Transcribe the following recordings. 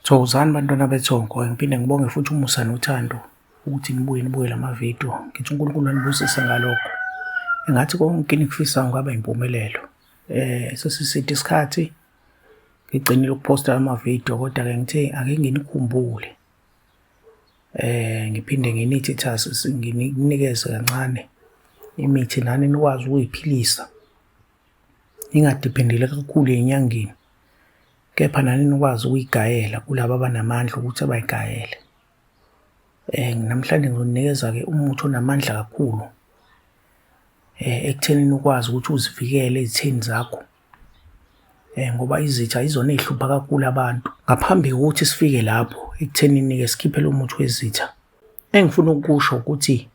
Thokozani bantwana bethongo, ngiphinde ngibonge futhi umusa nothando ukuthi nibuye nibuke la mavidiyo. Ngithi uNkulunkulu anibusise ngalokho. Engathi konke enikufisayo kungaba impumelelo. Eh sesiside isikhathi ngigcinile ukuphosta amavidiyo kodwa ke ngithe ake nginikhumbule. Eh ngiphinde nginithi thasi nginikeze kancane imithi nani nikwazi ukuyiphilisa. Ningadiphendile kakhulu enyangeni. kepha nani nikwazi ukuyigayela kulaba abanamandla ukuthi abayigayele eh namhlanje ngizoninikeza ke umuthi onamandla kakhulu eh ekutheni ukwazi ukuthi uzivikele izithini zakho eh ngoba izitha izona ezihlupha kakhulu abantu ngaphambi kokuthi sifike lapho ekutheni nike sikhiphe lo muthi wezitha engifuna ukusho ukuthi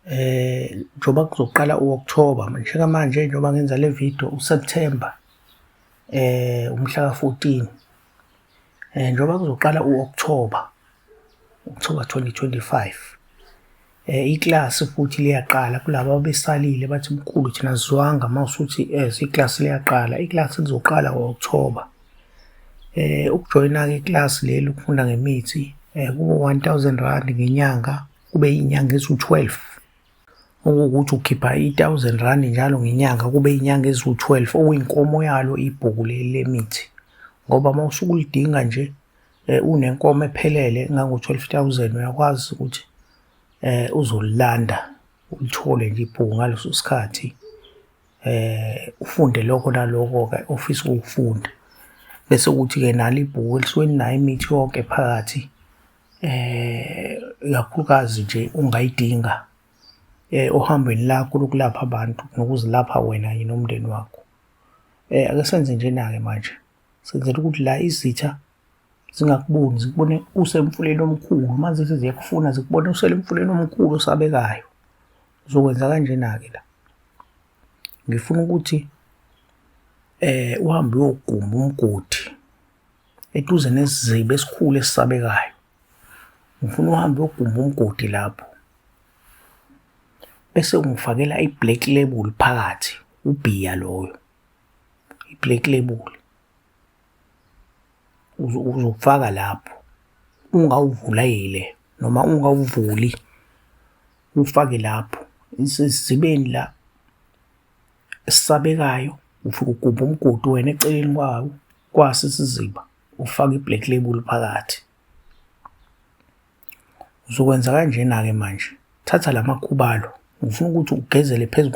eh njoba kuzoqala uOctober njengamanje njoba ngenza le video uSeptember eh umhla ka14 eh njoba kuzoqala uOctober October 2025 eh iclass futhi liyaqala kulabo abesalile bathi mkhulu thina sizwanga mawusuthi eh iclass liyaqala iclass lizoqala ngoOctober eh ukujoyina ke iclass leli ukufunda ngemithi eh kubo 1000 rand ngenyanga kube inyanga eziwu-12 okuwukuthi ukhipha i-1000 rand njalo ngenyanga kube inyanga eziwu-12 okuyinkomo yalo ibhuku leli lemithi ngoba uma usuke ulidinga nje eh, unenkomo ephelele engango-12000 uyakwazi ukuthi eh uzolilanda ulithole nje ibhuku ngaleso sikhathi eh ufunde lokho naloko ke ofisa ukufunda bese ukuthi ke nalo ibhuku elisuke linayo imithi yonke phakathi eh ikakhulukazi nje ungayidinga eh ohambweni lakho lokulapha abantu nokuzilapha wena yini nomndeni wakho eh ake senze njena ke manje senzela ukuthi la izitha zingakuboni zikubone usemfuleni omkhulu manje seziyakufuna zikubone uselemfuleni omkhulu osabekayo uzokwenza kanjena ke la ngifuna ukuthi eh uhambe uyoguma umgodi eduze nesiziba esikhulu esisabekayo ngifuna uhambe uyogumba umgodi lapho bese ungifakela i-black label phakathi ubhiya loyo i-black label uzofaka lapho ungawuvulile noma ungawuvuli ufake lapho isizibeni la esabekayo ufike ugubha umgodi wena eceleni kwawo kwasi isiziba ufaka i-black label phakathi uzokwenza kanjena-ke manje thatha la makhubalo ngifuna ukuthi ugezele phezu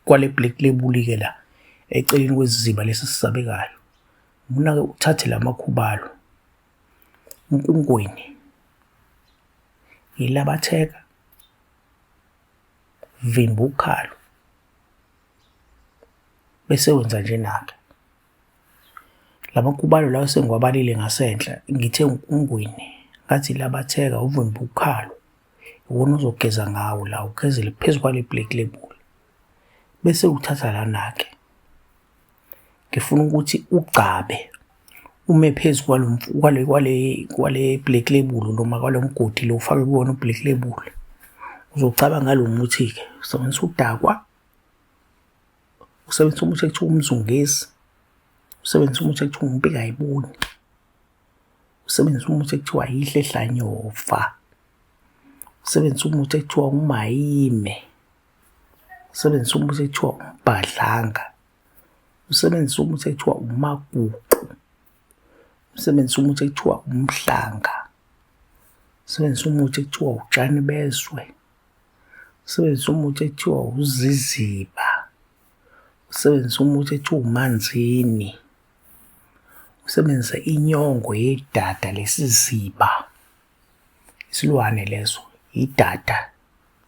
kwale black label-ke la eceleni kweziziba lesi sisabekayo ngifuna-ke uthathe la makhubalo unkungweni yilabatheka Vimba ukhalo. Bese wenza njena-ke. Lamakubalo lawo sengiwabalile ngasenhla ngithe uNgwini ngathi labatheka uvimba ukhalo. Iwona ozogeza ngawo la ugezele phezu kwale plate lebula. Bese uthatha lana-ke. ngifuna ukuthi ugcabe ume phezu kwalo kwale kwale kwale black label noma kwalo mgodi lo ufake kuwona ublack label uzocaba ngalo muthi ke usebenzisa udakwa usebenzisa umuthi ekuthiwa umzungezi usebenzisa umuthi ekuthiwa umpika ayiboni usebenzisa umuthi ekuthiwa yihle hlanyova usebenzisa umuthi ekuthiwa umayime usebenzisa umuthi ekuthiwa umbhadlanga usebenzisa umuthi ekuthiwa umaguqu usebenzisa umuthi ekuthiwa umhlanga usebenzisa umuthi ekuthiwa utshani bezwe usebenzisa umuthi ekuthiwa uziziba usebenzisa umuthi ekuthiwa umanzini usebenzisa inyongo yedada lesiziba isilwane leso idada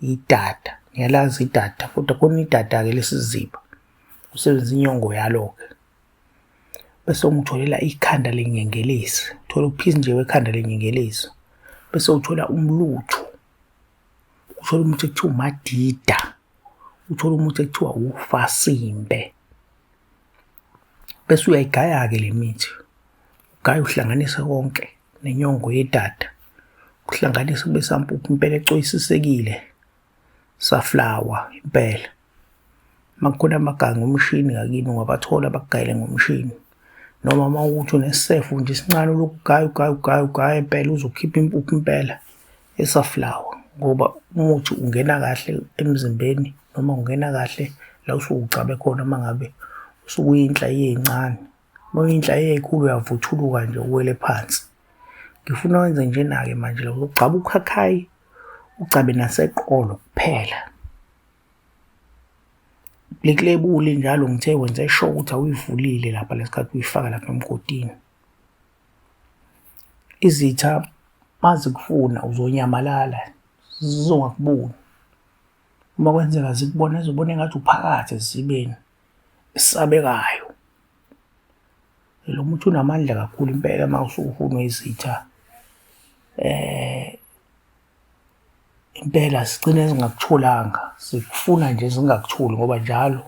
idada ngiyalazi idada kodwa khona idada-ke lesiziba usebenzisa inyongo yalo-ke bese ungitholela ikhanda lenyengelezi thola uphisi nje wekhanda lenyengelezi bese uthola umlutho uthola umuthi ekuthiwa umadida uthola umuthi ekuthiwa ufasimbe bese uyayigaya-ke le mithi ugaya uhlanganise konke nenyongo yedada kuhlanganise kube sampuphu impela ecoyisisekile saflawa impela makukhona amaganga ngomshini ngakini ungabathola bakugayele ngomshini noma uma ukuthi unesefu nje isincane lokugaya ugaya ugaya ugaya impela uzokhipha impuphu impela esaflower ngoba umuthi ungena kahle emzimbeni noma ungena kahle la usuke ugcabe khona uma ngabe usuke uyinhla eyincane uma uyinhla eyikhulu uyavuthuluka nje uwele phansi ngifuna wenze njena-ke manje lo ugcaba ukhakhayi ugcabe naseqolo kuphela likulebuli njalo ngithe wenze sure ukuthi awuyivulile lapha lesikhathi uyifaka lapha emgodini Izitha mazikufuna uzonyamalala zizongakuboni uma kwenzeka zikubona zibone engathi uphakathi esithibeni esabekayo. Lo muthi unamandla kakhulu impela uma usufunwa izitha impela sigcine zingakutholanga zikufuna nje zingakutholi ngoba njalo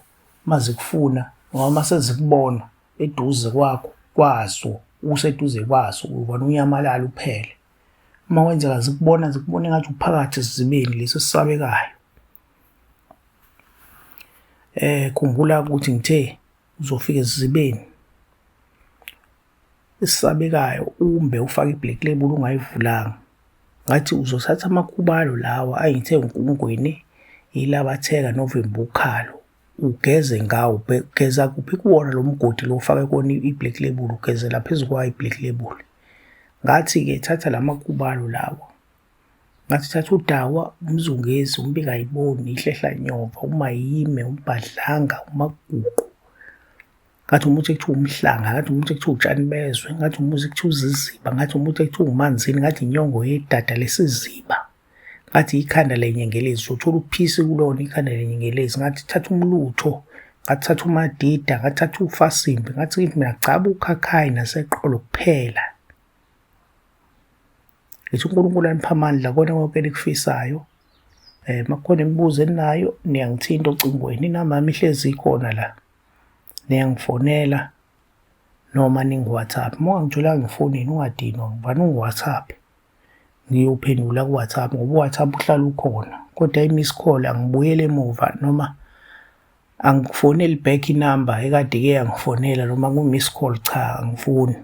uma zikufuna noma uma sezikubona. eduze kwakho kwaso useduze kwaso ubona unyamalala uphele uma wenzeka zikubona zikubona ngathi uphakathi esizibeni lesi esisabekayo eh khumbula ukuthi ngithe uzofika esizibeni esisabekayo umbe ufake iblack label ungayivulanga ngathi uzothatha amakhubalo lawa ayithe uNkungwini yilabatheka November ukhalo ugeze ngawo geza kuphi kuwona lo mgodi lo ufake kona i-black label ugezela phezu kwayo i-black label ngathi-ke thatha la makubalo lawa ngathi thatha udawa umzungezi umbikayiboni ihlehla nyova umayime umbhadlanga umaguqu ngathi umuthi ekuthiwa umhlanga ngathi umuthi ekuthiwa utshani bezwe ngathi umuthi ekuthiwa uziziba ngathi umuthi ekuthiwa umanzini ngathi inyongo yedada lesiziba ngathi ikhanda lenyengelezi sothola uphisi kulona ikhanda lenyengelezi ngathi thatha umlutho ngathatha umadida ngathatha ufasimbi ngathi kithi mina gcaba ukhakhayi naseqolo kuphela ngithi unkulunkulu anipha amandla kona konke elikufisayo um makukhona imibuzo eninayo niyangithinta ocingweni inamami ihlezi ikhona la niyangifonela noma ningu-whatsapp uma ungangitholanga ngifonini ungadinwa ngubani ungu-whatsapp ngiyophendula kuWhatsApp ngoba uWhatsApp uhlala ukhona kodwa i-miss call angibuyele emuva noma angifoneli back inamba ekade ke yangifonela noma ku-miss call cha angifuni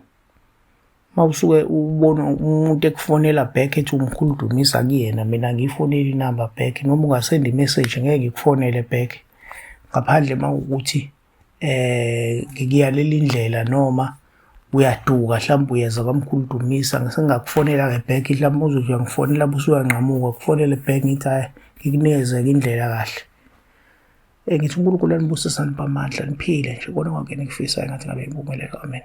uma usuke ubona umuntu ekufonela back ethi umkhulu dumisa kuyena mina ngiyifoneli inamba back noma ungasenda i-message ngeke ngikufonele back ngaphandle uma ukuthi eh ngikuyalele indlela noma uyaduka mhlawumbe uyeza kwamkhulu dumisa ngisengakufonela ke back mhlawumbe uzothi uyangifonela busuyanqamuka kufonele back ngithi hayi ngikunikeze ke indlela kahle eh ngithi uNkulunkulu anibusisa nibamandla niphile nje kona kwakhe nikufisayo ngathi ngabe impumelelo amen